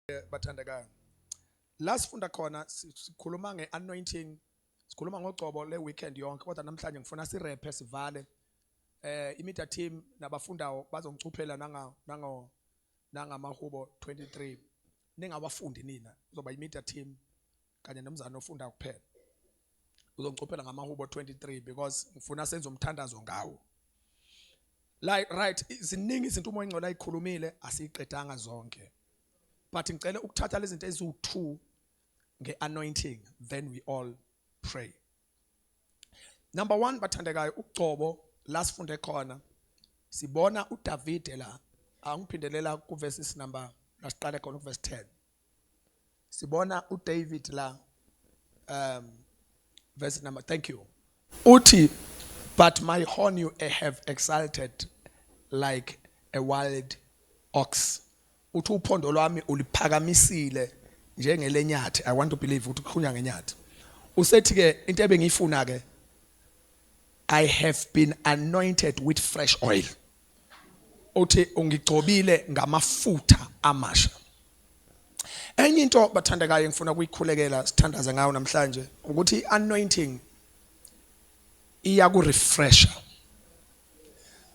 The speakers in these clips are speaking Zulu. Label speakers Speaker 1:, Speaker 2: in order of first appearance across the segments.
Speaker 1: eh, bathandekayo la sifunda khona sikhuluma nge-anointing sikhuluma ngogcobo le-weekend yonke kodwa namhlanje ngifuna sirephe sivale eh imedia team nabafundayo bazongicuphela nanga nango nangamahubo 23 ningawafundi nina uzoba imedia team kanye nomzana ofunda kuphela uzongicophela ngamahubo 23 because ngifuna senze umthandazo ngawo like right ziningi izinto umoya ingcola ayikhulumile asiqedanga zonke but ngicela ukuthatha lezi zinto eziwu2 ngeanointing then we all pray Number 1 bathandekayo ugcobo la sifunde khona sibona uDavide la angiphindelela kuverse number lasiqale khona kuverse 10 sibona uDavid la um verse number thank you uthi but my horn you have exalted like a wild ox Uthi uphondo lwami uliphakamisile njengelenyathi, I want to believe ukuthi kukhulunywa ngenyathi. Usethi-ke into ebengiyifuna-ke, I have been anointed with fresh oil. Uthi ungigcobile ngamafutha amasha. Enye into bathandekayo engifuna ukuyikhulekela sithandaze ngayo namhlanje ukuthi i-anointing iya ku-refresher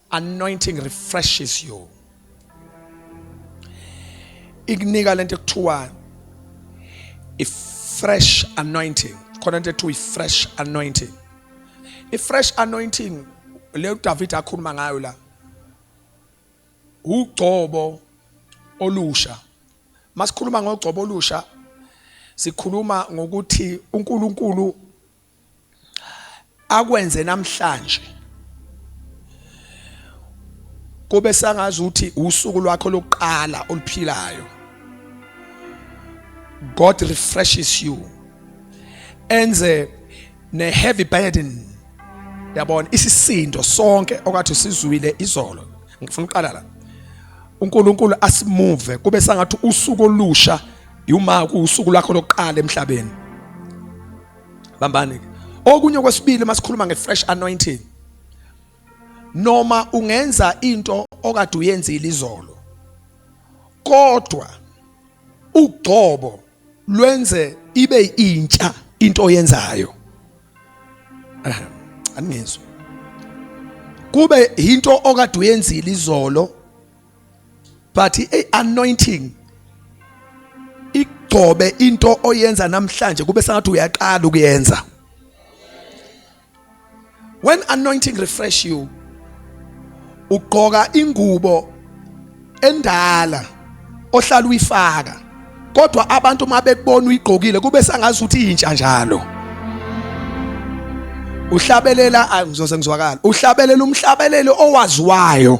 Speaker 1: anointing refreshes you ikunika lento ekuthiwa i-fresh anointing khona into ekuthiwa i-fresh anointing i-fresh anointing le uDavid akhuluma ngayo la ugcobo olusha masikhuluma ngogcobo olusha sikhuluma ngokuthi uNkulunkulu akwenze namhlanje kube sangazi ukuthi usuku lwakho lokuqala oluphilayo God refreshes you enze ne heavy burden yabona isisindo sonke okwathi sizwile izolo ngifuna uqala la uNkulunkulu asimove kube sangathi usuku olusha yuma kusuku lakho lokuqala emhlabeni bambani okunye okwesibili masikhuluma ngefresh anointing noma ungenza into okade uyenzile izolo kodwa ugcobo lwenze ibe intsha into oyenzayo aningizwa kube into okade uyenzile izolo but i anointing igcobe into oyenza namhlanje kube sengathi uyaqala ukuyenza when anointing refresh you ugqoka ingubo endala ohlala uyifaka kodwa abantu uma bekubona uyigqokile kube sangazi ukuthi intsha njalo uhlabelela ngizoze ngizwakala uhlabelela umhlabeleli owaziwayo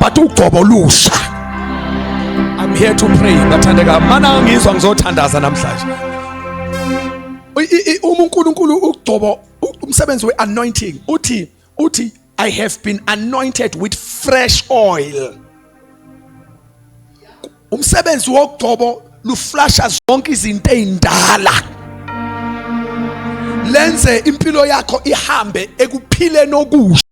Speaker 1: but ugobo olusha I'm here to pray bathandeka mana angizwa ngizothandaza namhlanje uma uNkulunkulu ugcobo umsebenzi weanointing uthi uthi I have been anointed with fresh oil umsebenzi wogcobo luflasha zonke izinto ezindala lenze impilo yakho ihambe ekuphileni okusha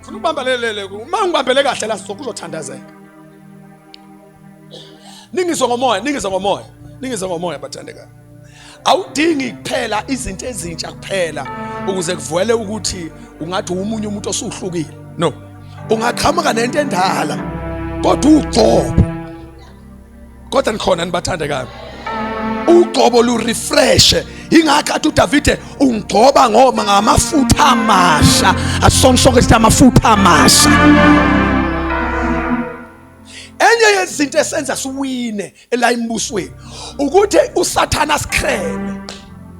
Speaker 1: Funa ukubambelelele uma ngibambele kahle la sokho uzothandazeka. Ningizo ngomoya, ningizo ngomoya, ningizo ngomoya bathandeka. Awudingi kuphela izinto ezintsha kuphela ukuze kuvele ukuthi ungathi umunye umuntu osuhlukile. No. Ungaqhamuka nento endala kodwa ugcobo kodwa nikhona nibathandekayo ugcobo lu refresh ingakho athi uDavide ungigcoba ngoma ngamafutha amasha asisonke sonke sithi amafutha amasha enye yezinto esenza siwine elayimibusweni ukuthi usathana sikrebe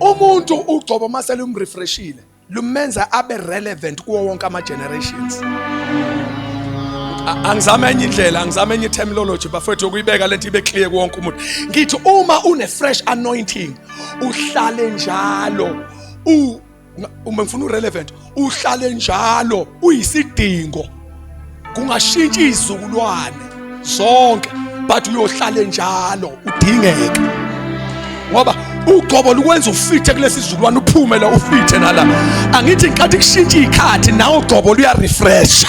Speaker 1: umuntu ugcobo uma selumrefreshile lumenza abe relevant kuwo wonke ama-generations angizame enye indlela angizame enye terminology bafethu yokuyibeka lento ibe clear kuwonke umuntu ngithi uma une-fresh anointing uhlale njalo uma ngifuna urelevant uhlale njalo uyisidingo kungashintsha izizukulwane zonke but uyohlale njalo udingeke ngoba ugcobo lukwenza ufithe kulesi sizukulwane uphume la ufithe nala angithi nkathi kushintsha ikhathi nawo ugcobo luyarefresha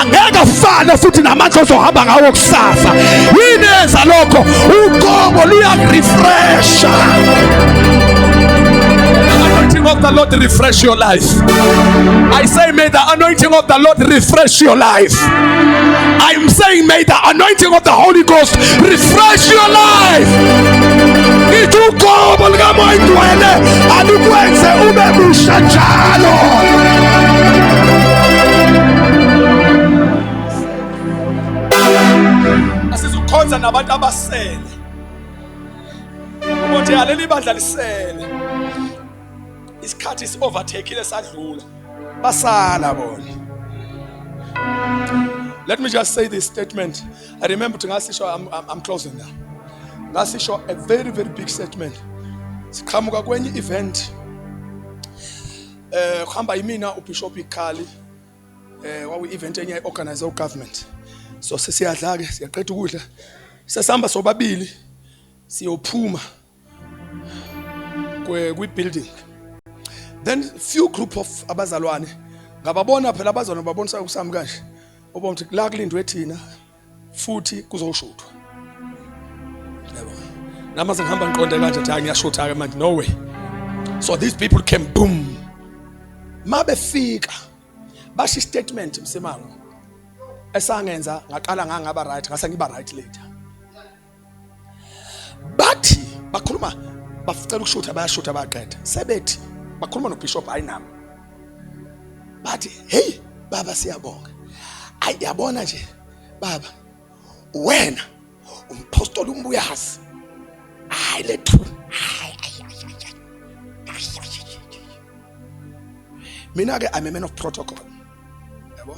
Speaker 1: angeke afane futhi namandla ozohamba ngawo kusasa yini yenza lokho uqobo luyakurefresha anointing of the Lord refresh your life. I say, may the anointing of the Lord refresh your life. I am saying, may the anointing of the Holy Ghost refresh your life. Itukobo likamoyidwele alikwenze ube musha njalo. asizukhonza nabantu abasele ukuthi aleli bandla lisele isikhathi si overtakeile sadlula basala bona Let me just say this statement. I remember to ngasisho I'm, I'm, I'm closing now. Ngasisho a very very big statement. Siqhamuka kwenye event Eh kuhamba yimina uBishop Ikhali eh wawu event enye organize ugovernment. So sesiyadla ke siyaqeda ukudla. Sesihamba sobabili siyophuma kwe kwi building. Then few group of abazalwane ngababona phela abazalwane babonisa ukusami kanje. Obomthi la kulindwe thina futhi kuzoshuthwa yabo nama sengihamba ngiqonde kanje cha ngiyashutha ke manje no way so these people came boom mabefika basho statement msemango esangenza ngaqala ngangaba right ngase ngiba right later bathi bakhuluma bacela ukushutha bayashutha bayaqeda sebethi bakhuluma nobishop hayi nami bathi hey baba siyabonga ayi yabona nje baba wena umpostoli umbuyazi hayi lethu hayi mina ke i'm a man of protocol yabo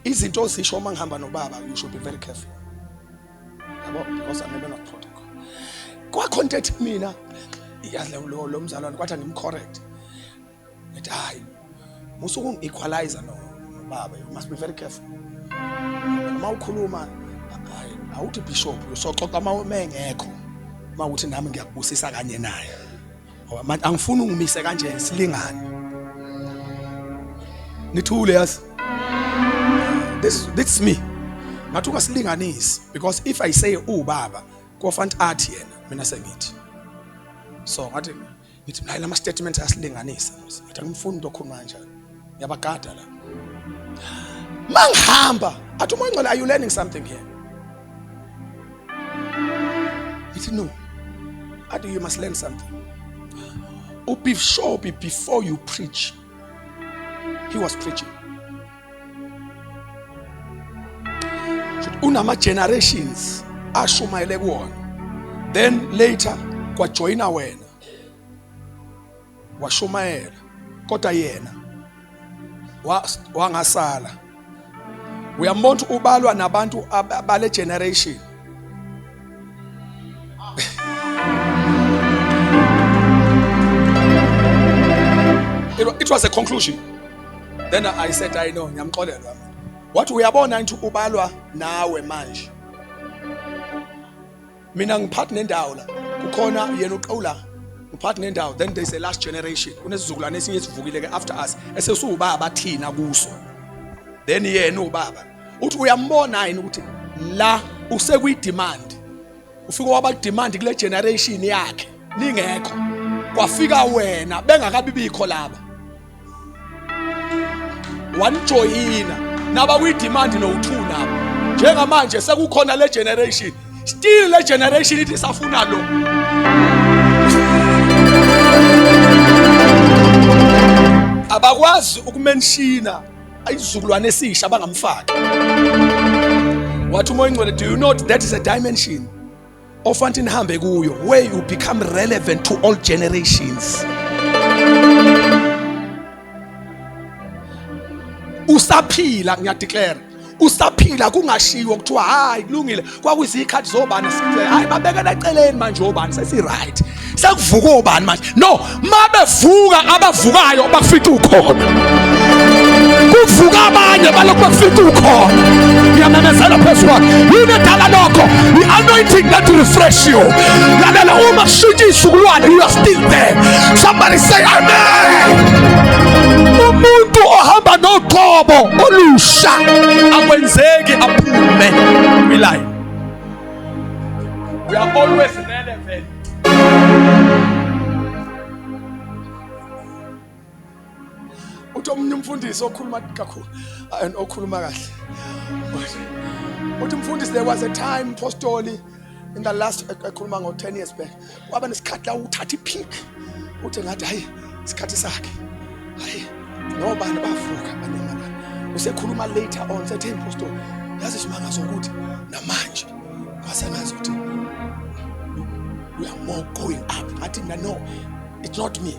Speaker 1: izinto ozisho uma ngihamba nobaba you should be very careful yabo because I'm a man of protocol kwakho into ethi mina yazi lo lo mzalwane kwathi angimcorrect ngithi hayi musa ukungi-equalize no baba you must be very careful uma ukhuluma hayi awuthi bishop usoxoxa uma uma engekho uma ukuthi nami ngiyakubusisa kanye naye ngoba manje angifuni ungimise kanje silingane nithule yazi this this me ngathi ungasilinganisi because if i say ubaba kofanti athi yena mina sengithi so ngathi ngithi naye lama statement asilinganisa ngathi angimfuni lokho manje ngiyabagada la mangihamba athi umoya ongcwele are you learning something here ithi no athi you must learn something ubishopi before you preach he was preaching unama generations ashumayele kuwona then later kwajoyina wena washumayela kodwa yena wangasala uyambona ukuthi ubalwa nabantu bale generation it was a conclusion then i said i know ngiyamxolelwa wathi uyabona into ubalwa nawe manje mina ngiphathi nendawo la kukhona yena uqawula ngiphathi nendawo then there's a last generation kunesizukulwane esinye esivukile ke after us esesuwubaba thina kuso then yena ubaba uthi uyambona yini ukuthi la usekwi demand ufike waba demand kule generation yakhe ningekho kwafika wena bengakabibikho laba wanijoyina naba kwi-demand nowu-two nabo njengamanje sekukhona le generation still le generation ithi safuna lo abakwazi ukumenshina isizukulwane esisha bangamfaki wathi umoya ingcwele do you know that is a dimension ofanti nihambe kuyo where you become relevant to all generations usaphila ngiyadeclare usaphila kungashiwo kuthiwa hayi kulungile kwakuyizikhathi zobani hayi babekela eceleni manje obani sesi-right sekuvuka obani manje no mabevuka abavukayo bafica ukhona kuvuka abanye balokhu bafica ukhona ngiyamemezela phezu kwakhe yini edala lokho i-anointing that refresh you lalela uma kushintsha iy'sukulwane you are still there somebody say amen umuntu ohamba noqobo olusha akwenzeki aphume kwilayini We are always relevant. Uthi omunye umfundisi okhuluma kakhulu and okhuluma kahle. Uthi umfundisi there was a time postoli in the last ekhuluma ngo 10 years back. kwaba nesikhathi la uthatha ipic uthi ngathi hayi isikhathi sakhe hayi nobani bavuka banyamana usekhuluma later on sethe impostor yazi isimanga sokuthi namanje kwasengazi ukuthi we are more going up ngathi mina no it's not me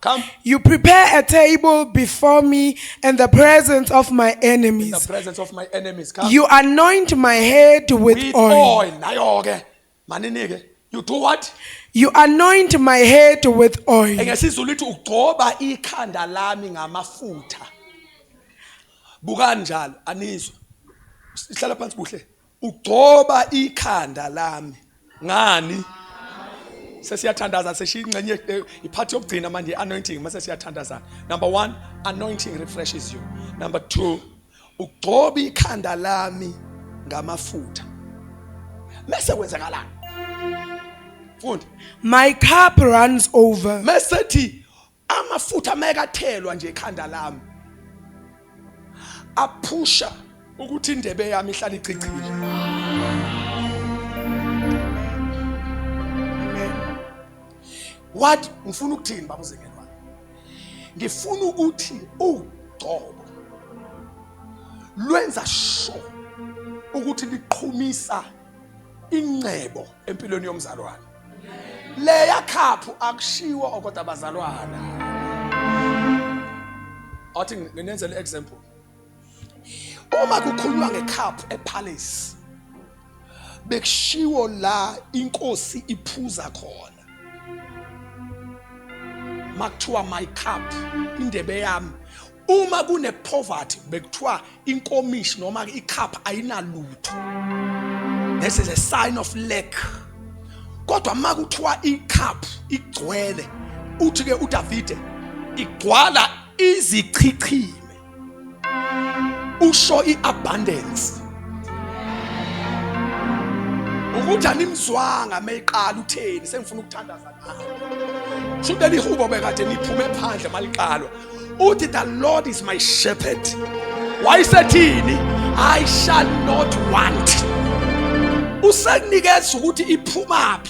Speaker 2: Come. You prepare a table before me in the presence of my enemies. In the presence of my
Speaker 1: enemies. Come. You anoint my
Speaker 2: head with, with oil. oil. Nayo ke. Manini ke.
Speaker 1: You do what? You anoint
Speaker 2: my head with oil. Engesizulu ithi ugcoba
Speaker 1: ikhanda lami ngamafutha. Buka njalo anizwa. Sihlala phansi kuhle. Ugcoba ikhanda lami ngani? Sesiyathandaza seshiya ingxenye eh, iphathi yokugcina manje anointing mase siyathandaza. Number 1, anointing refreshes you. Number 2, ugcoba ikhanda lami ngamafutha. Mase kwenzakalani? Fundi.
Speaker 2: My cup runs over. Mase thi
Speaker 1: amafutha mayekathelwa nje ekhanda lami aphusha ukuthi indebe yami ihlale icicile what ngifuna ukuthini baba uzengeni wami ngifuna ukuthi ugcobo lwenza sho ukuthi liqhumisa ingcebo empilweni yomzalwane leya khaphu akushiwo okoda bazalwana athi nginenzele example uma kukhulunywa ngekhaphu epalace bekushiwo la inkosi iphuza khona makuthiwa my cup indebe yami uma kune poverty bekuthiwa inkomishi noma icup ayinalutho this is a sign of lack kodwa uma kuthiwa icup igcwele uthi ke uDavide igcwala izichichime usho iabundance ukuthi animzwanga meyiqala utheni sengifuna ukuthandaza nawe sho ukuthi lihubo bekade niphume phandle maliqalwa uthi the lord is my shepherd wayisethini i shall not want usekunikeza ukuthi iphumaphi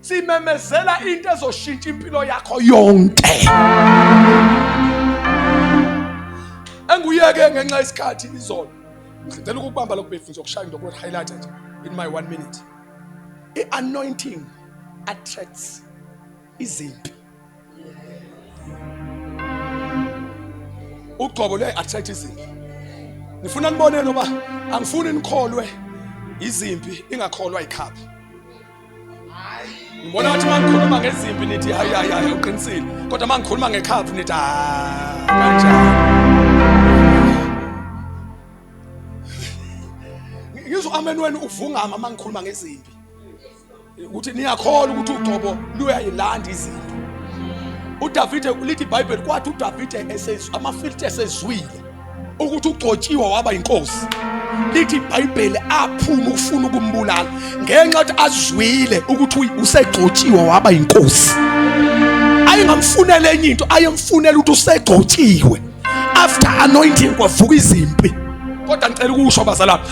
Speaker 1: simemezela into ezoshintsha impilo yakho yonke enguyeke ngenxa yesikhathi izolo ngicela ukubamba lokhu befundisa ukushaya into highlight nje in my one minute i-anointing attracts izimpi ugcobo luyayi-attract izimpi ngifuna niboneni uba angifuni nikholwe izimpi ingakholwa yikhaphi ngibona ngathi uma ngikhuluma ngezimpi nithi hayi hayi hayi uqinisile kodwa uma ngikhuluma ngekhaphu nithi hayi kanjani ngizwa amen wenu uvungama uma ngikhuluma ngezimpi ukuthi niyakholwa ukuthi ugcobo luyayilanda izinto udavide lithi ibhayibheli kwathi udavide esezwa amafilithi esezwile ukuthi ugcotshiwe waba inkosi lithi ibhayibheli aphuma ukufuna ukumbulala ngenxa yokuthi azwile ukuthi usegcotshiwe waba inkosi ayengamfunela enye into ayemfunela ukuthi usegcotshiwe after anointing kwavuka izimpi kodwa ngicela ukusho abazalwane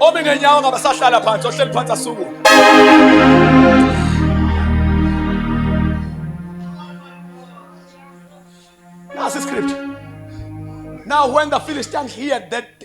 Speaker 1: omi ngenyawo ngabasahlala phansi ohleli phansi asukume Now, when the Philistines heard that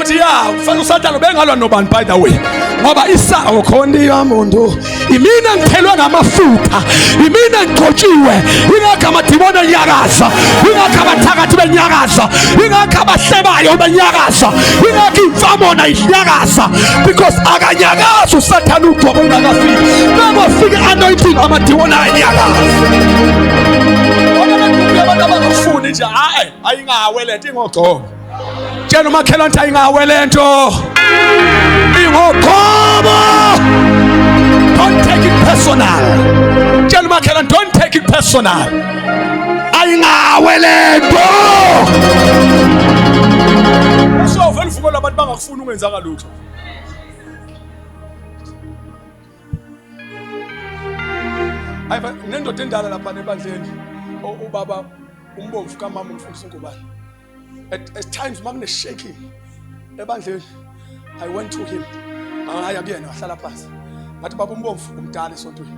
Speaker 1: uthi ya ufana usathane ubengalwa nobani by the way ngoba isawo khona yamuntu imina ngithelwe ngamafutha imina ngigcotshiwe ingakho amadimoni enyakaza ingakho abathakathi benyakaza ingakho abahlebayo benyakaza ingakho imfamona inyakaza because akanyakazi usathane ugcobo ungakafiki nakofika anointing amadimoni ayanyakaza abantu abangafuni nje hayi ayingawe lento ingogcobo tshela umakhelwane ukuthi ayingawe le nto ingoqobo don't take it personal tshela umakhelwane don't take it personal ayingawe le nto sovele uvuko labantu bangakufuni ungenzanga lutho hayi nendoda endala lapha nebandleni ubaba umbomvu kamama umfundisi ngubani at, at times uma kuneshaking ebandleni i went to him ngaya kuyena wahlala phansi ngathi baba umbomvu umdala esontweni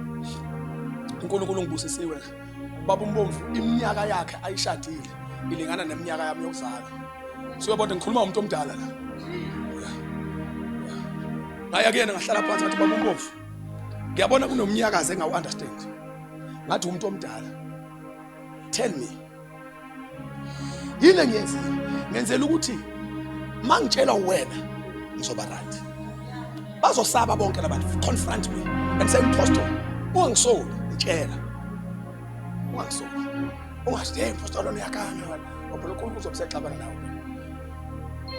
Speaker 1: unkulunkulu ngibusisiwe baba umbomvu iminyaka yakhe ayishadile ilingana neminyaka yami yokuzalwa siyobona ngikhuluma umuntu omdala la ngaya kuyena ngahlala phansi ngathi baba umbomvu ngiyabona kunomnyakazi engawu-understand ngathi umuntu omdala tell me yini engiyenzile ngenzela ukuthi uma ngitshela wena ngizoba right bazosaba bonke labantu confront me and say mphostoli ungangisoli ngitshela ungangisoli ungathi hey mphostoli lona uyakanga ngoba lokho unkulunkulu uzobuseqabana nawe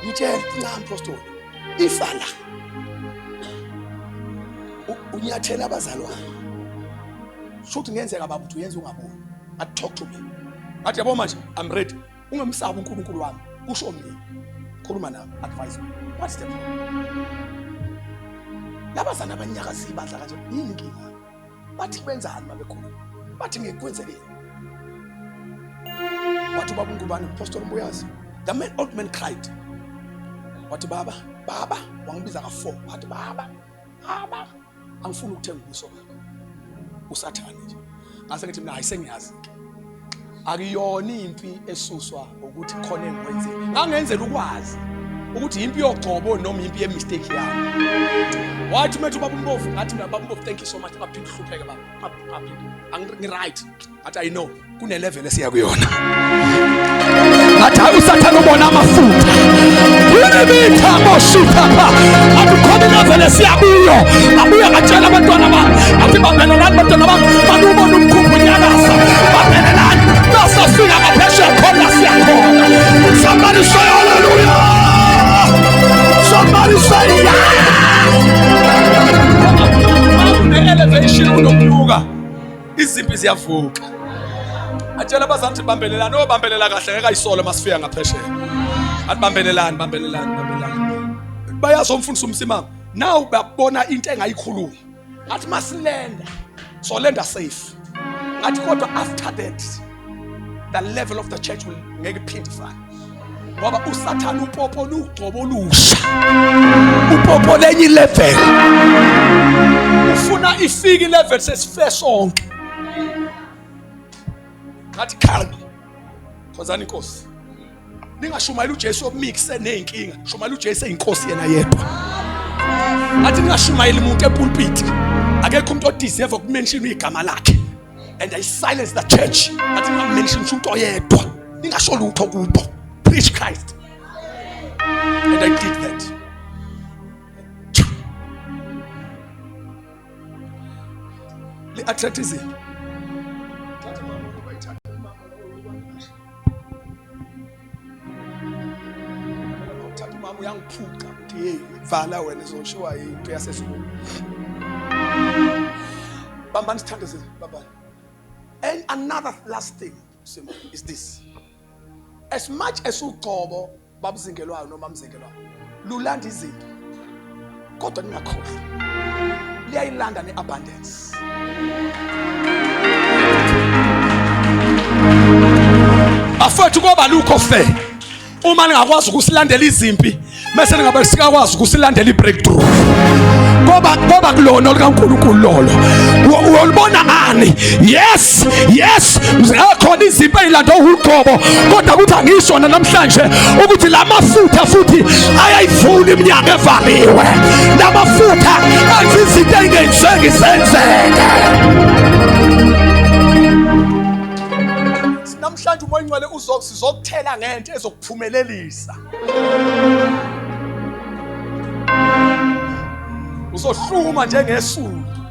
Speaker 1: ngitshela ncam mphostoli ifala unyathela abazalwane shuthi ngenzeka baba uthi uyenza ungaboni a talk to me athi yabo manje i'm ready ungamsabi uNkulunkulu wami kusho mina khuluma nami advise me what's the problem laba sana abanyakaza ibandla kanje yini inkinga bathi benzani mabekhuluma bathi ngikwenzekile wathi ubaba uNkubani uPostoli Mbuyazi the man old man cried wathi baba baba wangibiza ka-four wathi baba baba angifuni ukuthenga ubuso bakho usathane nje ngase ngithi mina ayisengiyazi ke akuyona impi esuswa ukuthi khona engikwenze ngangenzela ukwazi ukuthi impi yogcobo noma impi yemistake yami wathi umethu baba umbovu ngathi mina baba umbovu thank you so much ngaphinde uhlupheke baba ngaphinde angiright Athi I know kune level esiya kuyona. Athi hayi usathana ubona amafutha. Unemitha boshitha pha. Athi khona level esiya kuyo. Abuya katshela abantwana bami. Athi babelelani abantwana bami. Balubona umkhumbu nyakaza. Babelelani. Nasa sika kapheshe khona siya khona. Somebody say hallelujah. Somebody say yeah. Elevation unokunyuka izimpi ziyavuka atshela abazali ukuthi bambelelani obambelela oh, kahle ngeke ayisole masifika ngaphesheya athi bambelelani bambelelani bambelelani bayazi omfundisi umsimama nawu babona into engayikhuluma ngathi masilenda solenda safe ngathi kodwa after that the level of the church will ngeke phinde ifane ngoba usathane upopo lugcobo olusha upopo lenye ilevel ufuna ifike ilevel sesife sonke ngathi khalma khonzani inkosi ningashumayela uJesu omikse nezinkinga shumayela uJesu eyinkosi yena yedwa athi ningashumayeli umuntu epulpiti akekho umuntu odeserve ukumention igama lakhe and i silence the church athi ningamention umuntu oyedwa ningasho lutho kubo preach Christ and i did that li attract izinto Uthatha umama uyangiphuca ukuthi hey vala wena izoshiwa into yasezulu. Bambani sithando senu bambani. And another last thing Simo is this. As much as ugcobo babuzingelwayo noma mzingelwayo lulanda izinto kodwa ningakhohlwa liyayilanda ne-abundance bafethu koba lukho fe uma ningakwazi ukusilandela izimpi mese ningabe sikakwazi ukusilandela i-breakthrough koba koba kulona olikaNkulunkulu lolo uyolibona ngani yes yes yes akhona izimpi ezilanda uhuqobo kodwa ukuthi angisho namhlanje ukuthi la mafutha futhi ayayivula iminyango evaliwe la mafutha athi izinto engenzeki zenzeke namhlanje umoya ingcwele uzokuthela ngento ezokuphumelelisa uzohluma njengesundu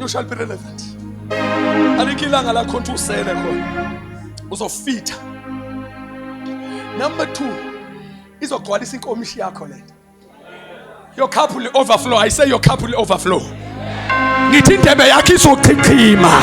Speaker 1: you shall be relevant alikho ilanga lakho ukuthi usele khona uzofitha number 2 izogcwalisa inkomishi yakho le your cup will overflow i say your cup will overflow ngithi indebe yakhe izochichima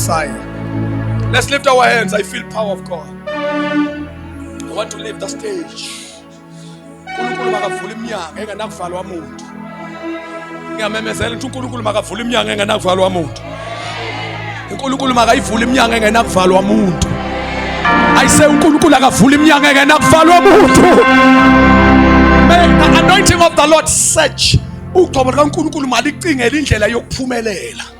Speaker 1: Messiah. Let's lift our hands. I feel power of God. I want to leave the stage. uNkulunkulu makavula iminyango engenakuvalwa muntu. Ngiyamemezela ukuthi uNkulunkulu makavula iminyango engenakuvalwa muntu. uNkulunkulu makayivula iminyango engenakuvalwa muntu. Ayise uNkulunkulu akavula iminyango engenakuvalwa muntu. May the anointing of the Lord search ugcobo likaNkulunkulu malicingele indlela yokuphumelela.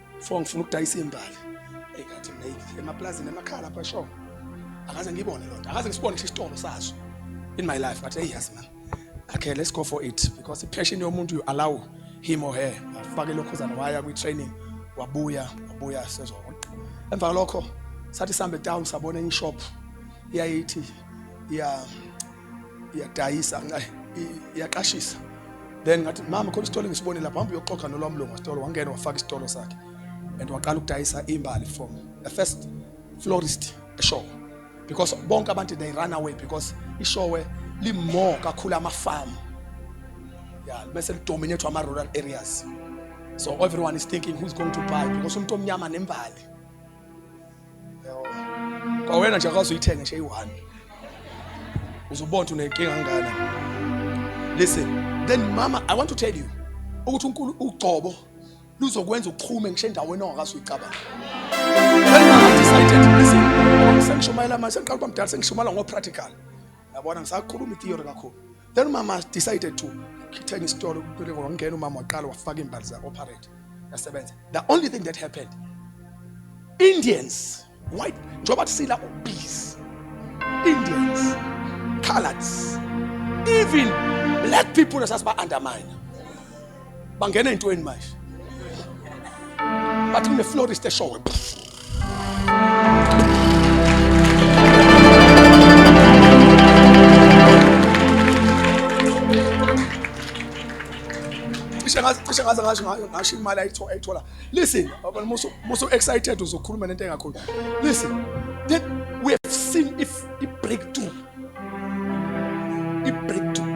Speaker 1: Fo ngifuna ukudayisa imbali. Hey kanti mina emaplazini emakhala lapha sho. Akaze ngibone lonto. Akaze ngisibone ngisho isitolo sazo in my life but hey yes man. Okay, let's go for it because passion yomuntu you allow him or her. Afake lokho zana waya kwi training wabuya wabuya sezwa. Emva lokho sathi sambe down sabona in shop iyayithi ya iyadayisa iyaqashisa then ngathi mama khona isitolo ngisibone lapha hamba uyoxoxa nolwamlungu wasitolo wangena wafaka isitolo sakhe and waqala ukudayisa imbali from the first florist eshowe because bonke abantu they run away because ishowe limore kakhulu amafamu ya bese lidominate ama-rural areas so everyone is thinking who's going to buy because umuntu omnyama nembali kwawena nje akwazi uyithenge nje eyi-one uzobona ukuthi unenkinga ngana listen then mama i want to tell you ukuthi unkulu ugcobo luzokwenza uqhume ngisho endaweni ongakazi uyicabanga then mama decided listen sengishumayela manje sengiqala ukuba mdala sengishumayela ngo-practical yabona ngisakhuluma i-theory kakhulu Then umama decided to khithenga isitolo kuphele ngongena umama waqala wafaka imbali za operate yasebenza. The only thing that happened Indians white njengoba kusila obese Indians coloreds even black people esasiba undermine bangena ey'ntweni manje bathi kuneflorist eshowe cishe ngaze cishe ngaze ngasho ngayo- ngasho imali ayitho- ayithola listen baba, musu musu excited uzokhuluma nento engakhulu listen that we have seen if i breakthrough i breakthrough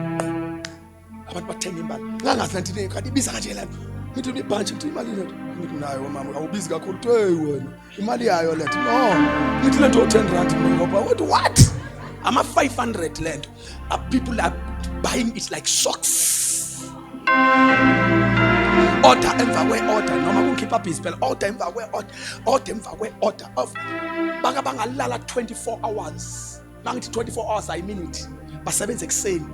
Speaker 1: abantu bathenga imbala ngangazi lento into kanti ibiza kanje lento ngithi ibhantshi ngithi imali lento ngithi nayo mama awubizi kakhulu kuthi hey wena imali yayo lento no ngithi lento 10 rand ngoba what what ama 500 lento a people are buying it like socks order emva kwe order noma kungikhipha busy phela order emva kwe order order emva kwe order of baka bangalala 24 hours mangithi 24 hours ayi minute basebenza ekuseni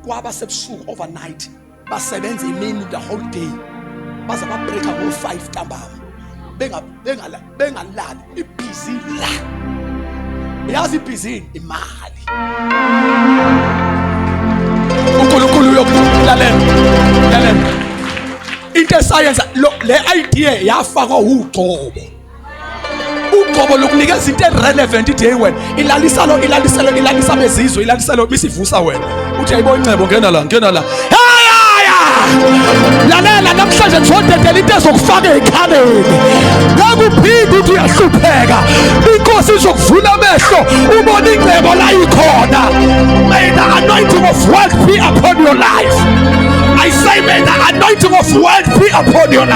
Speaker 1: kwaba sebusuku overnight basebenza imini the whole day baze babreaka ngo-5 ntambama bengalali ibhizi la yazi ibhizini imali unkulunkulu uyokulalela lalela into esayenza le idea yafakwa wugcobo uqobo lokunikeza into erelevant ithi hey wena ilalisalo ilaliselo ilalisa bezizwe ilaliselo bisivusa wena uthi ayibo incebo ngena la ngena la lalela namhlanje ngizodedela into ezokufaka ekhaleni ngakuphinde uthi uyahlupheka inkosi izokuvula amehlo ubone ingcebo la ikhona may the anointing of wealth be upon your life i say may the anointing of wealth be upon your life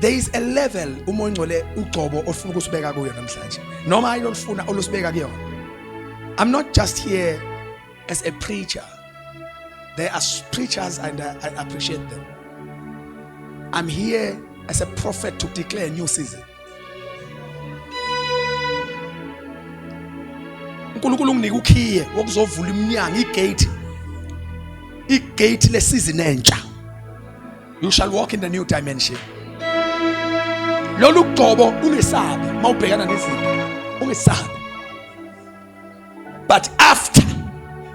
Speaker 1: there is a level uma ongcole ugcobo ofuna ukusibeka kuyo namhlanje noma ayilolufuna olusibeka kuyona i'm not just here as a preacher there are preachers and I, I appreciate them i'm here as a prophet to declare a new season uNkulunkulu unginike ukhiye wokuzovula iminyango igate igate lesizini entsha you shall walk in the new dimension lolu gcobo ungesabi mawubhekana nezinto ungesabi but after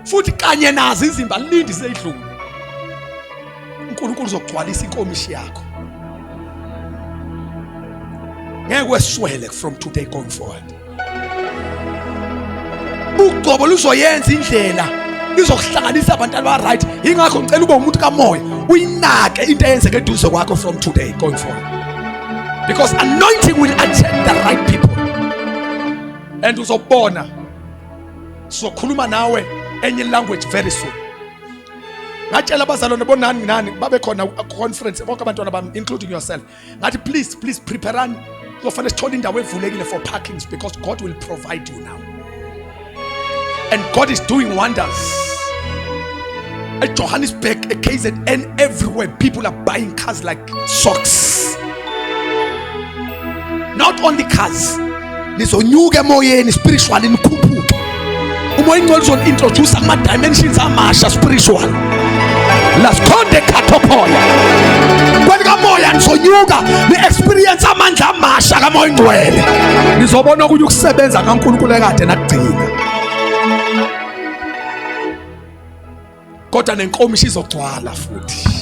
Speaker 1: futhi kanye nazo izimba lindi seyidlule uNkulunkulu uzogcwalisa inkomishi yakho ngeke weswele from today going forward ugcobo luzoyenza indlela izokuhlanganisa abantu abaright yingakho ngicela ube umuntu kamoya uyinake into eyenzeke eduze kwakho from today going forward because anointing will attract the right people and uzobona sizokhuluma nawe enye language very soon ngatshela abazalwane bonani nginani babe khona conference bonke abantwana bami including yourself ngathi please please preparani kuzofanele sithole indawo evulekile for parkings because god will provide you now and god is doing wonders at Johannesburg, at KZN, everywhere, people are buying cars like socks. not only cars nizonyuka emoyeni spiritually nikhuphuke umoya ingcwele uzoni-introduce kuma-dimensions amasha spiritual lasikhonde khathopoya kwelikamoya nizonyuka ni-experience amandla amasha kamoya ingcwele nizobona okunye ukusebenza kankulunkulu ekade nakugcina kodwa nenkomishi izogcwala futhi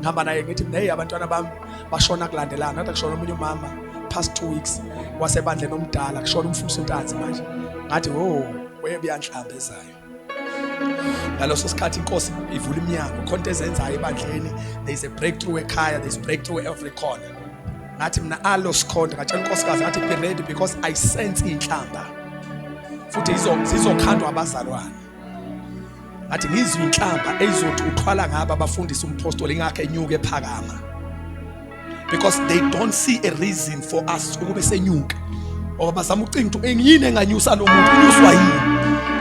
Speaker 1: ngihamba naye ngithi mina hey abantwana bami bashona kulandelana nathi kushona omunye umama past two weeks wasebandleni omdala kushona umfundisi untanzi manje ngathi wo oh, webuyanhlamba ezayo ngaleso sikhathi inkosi ivula iminyango khona into ezenzayo ebandleni there is a breakthrough ekhaya there is breakthrough every corner ngathi mina alo sikhonda ngatshela inkosikazi ngathi be ready because i sense inhlamba futhi izokhandwa abazalwane ngathi ngizwe inhlamba eyizothi uthwala ngaba abafundisa umpostoli ngakhe enyuke ephakama because they don't see a reason for us ukube senyuka ngoba bazama ucinga ukuthi engiyini enganyusa lo muntu unyuswa yini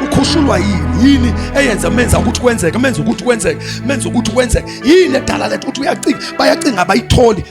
Speaker 1: ukhushulwa yini yini eyenza menza ukuthi kwenzeke menza ukuthi kwenzeke menza ukuthi kwenzeke yini edala lethu ukuthi uyacinga bayacinga abayitholi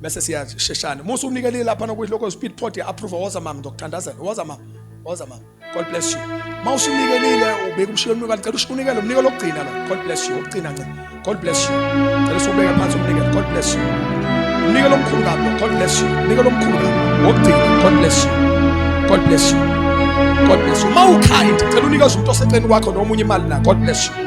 Speaker 1: bese siyasheshana uma usunikele lapha nokuyilokho speed pot ya approve woza mama ngokuthandazela woza mama woza mama god bless you uma usunikelile ubeka umshiyo umnike kanti cela ushunikele umnike lokugcina lo god bless you ukugcina nce god bless you cela usubeke phansi umnikele god bless you umnike lomkhulu kabi god bless you umnike lomkhulu kabi wokugcina god bless you god bless you god bless you uma ukind cela unikeza umuntu oseceleni kwakho noma umunye imali na god bless you